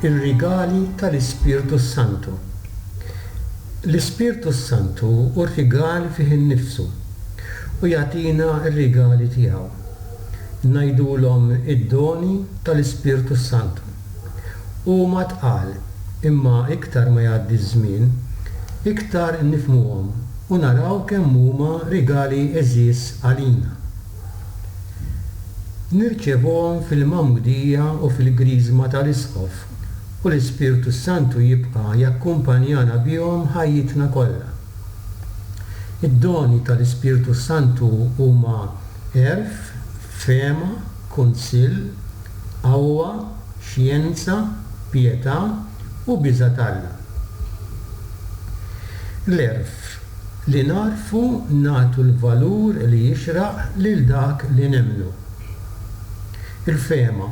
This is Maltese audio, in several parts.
Ir-rigali tal-Ispirtu s-Santu. L-Ispirtu s-Santu hu rigal fih innifsu u jagħtina r-rigali tiegħu. Ngħidulhom id-doni tal-Ispirtu s-Santu. Huma tqal, imma iktar ma jgħaddi ż-żmien, iktar nifhmuhom u naraw kemm huma rigali għeżież għalina. Nirċevuhom fil-Magħmudija u fil-Griżma tal-Isqof, u l-Ispirtu s-Santu jibqa' jakkumpanjana bihom ħajjitna kollha. Id-doni tal-Ispirtu s-Santu huma għerf, fehma, kunsill, qawwa, xjenza, pietà u biża' t'Alla. L-għerf li nagħrfu nagħtu l-valur li jixraq lil dak li nemmnu. Il-fehma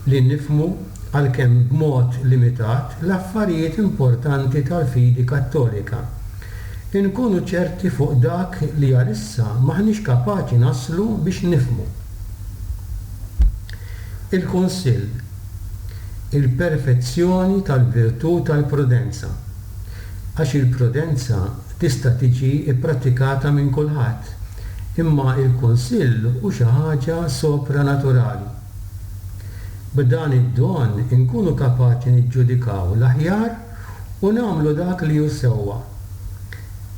li nifhmu, għalkemm b'mod limitat, l-affarijiet importanti tal-fidi Kattolika. Inkunu ċerti fuq dak li għalissa m'aħniex kapaċi naslu biex nifhmu. Il-Kunsill, Il-perfezzjoni tal-virtù tal-prudenza, għax il-prudenza tista' tiġi pprattikata minn kulħadd, imma l-Kunsill hu xi ħaġa sopranaturali. B'dan id-don inkunu kapaċi niġġudikaw l-aħjar u nagħmlu dak li hu sewwa.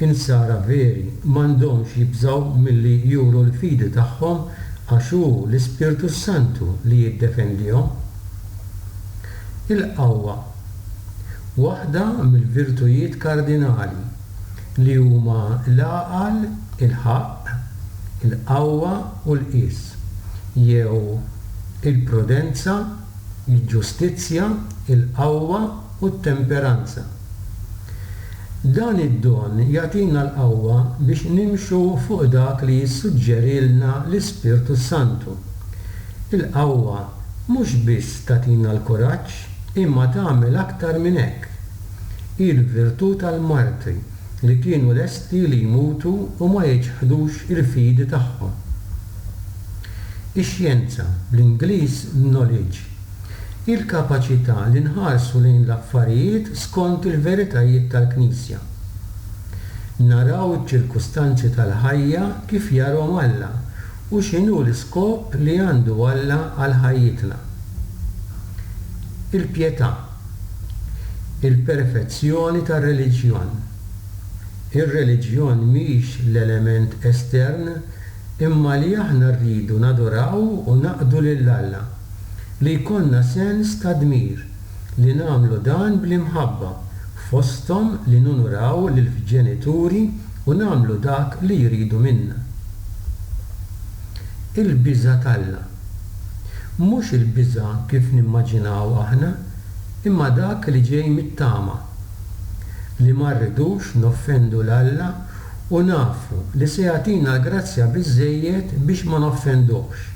In-nsara veri m'għandhomx jibżgħu milli juru l-fidi tagħhom għax hu l-Ispirtu s-Santu li jiddefendihom. Il-qawwa. Waħda mill-virtujiet kardinali, li huma l-għaqal, il-ħaqq, il-qawwa u l-qies, jew il-prudenza il-ġustizzja, il-qawwa u t-temperanza. Dan id-don jagħtina l-qawwa biex nimxu fuq dak li jissuġġerilna l-Ispirtu s-Santu. Il-qawwa mhux biss tagħtina l-kuraġġ imma tagħmel aktar minn hekk. Hi l-virtù tal-martri li kienu lesti li jmutu u ma jiċħdux il-fidi tagħhom. Ix-xjenza, bl-Ingliż, knowledge, hi l-kapaċità li nħarsu lejn l-affarijiet skont il-veritajiet tal-Knisja. Naraw iċ-ċirkustanzi tal-ħajja kif jarahom Alla u x'inhu l-iskop li għandu Alla għal ħajjitna. Il-pjetà, il-perfezzjoni tar-reliġjon, Ir-reliġjon mhix l-element estern imma li aħna rridu naduraw u naqdu lil Alla, li jkollna sens ta' dmir li nagħmlu dan bl-imħabba, fosthom li nunuraw lill-ġenituri u nagħmlu dak li jridu minna. Il-biża' t'Alla. Mhux il-biża' kif nimmaġinawha aħna, imma dak li ġej mit-tama. li ma rridux noffendu 'l Alla u nafu li se jagħtina l-grazzja biżżejjed biex ma noffenduhx.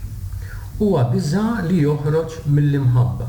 Huwa biża' li joħroġ mill-imħabba.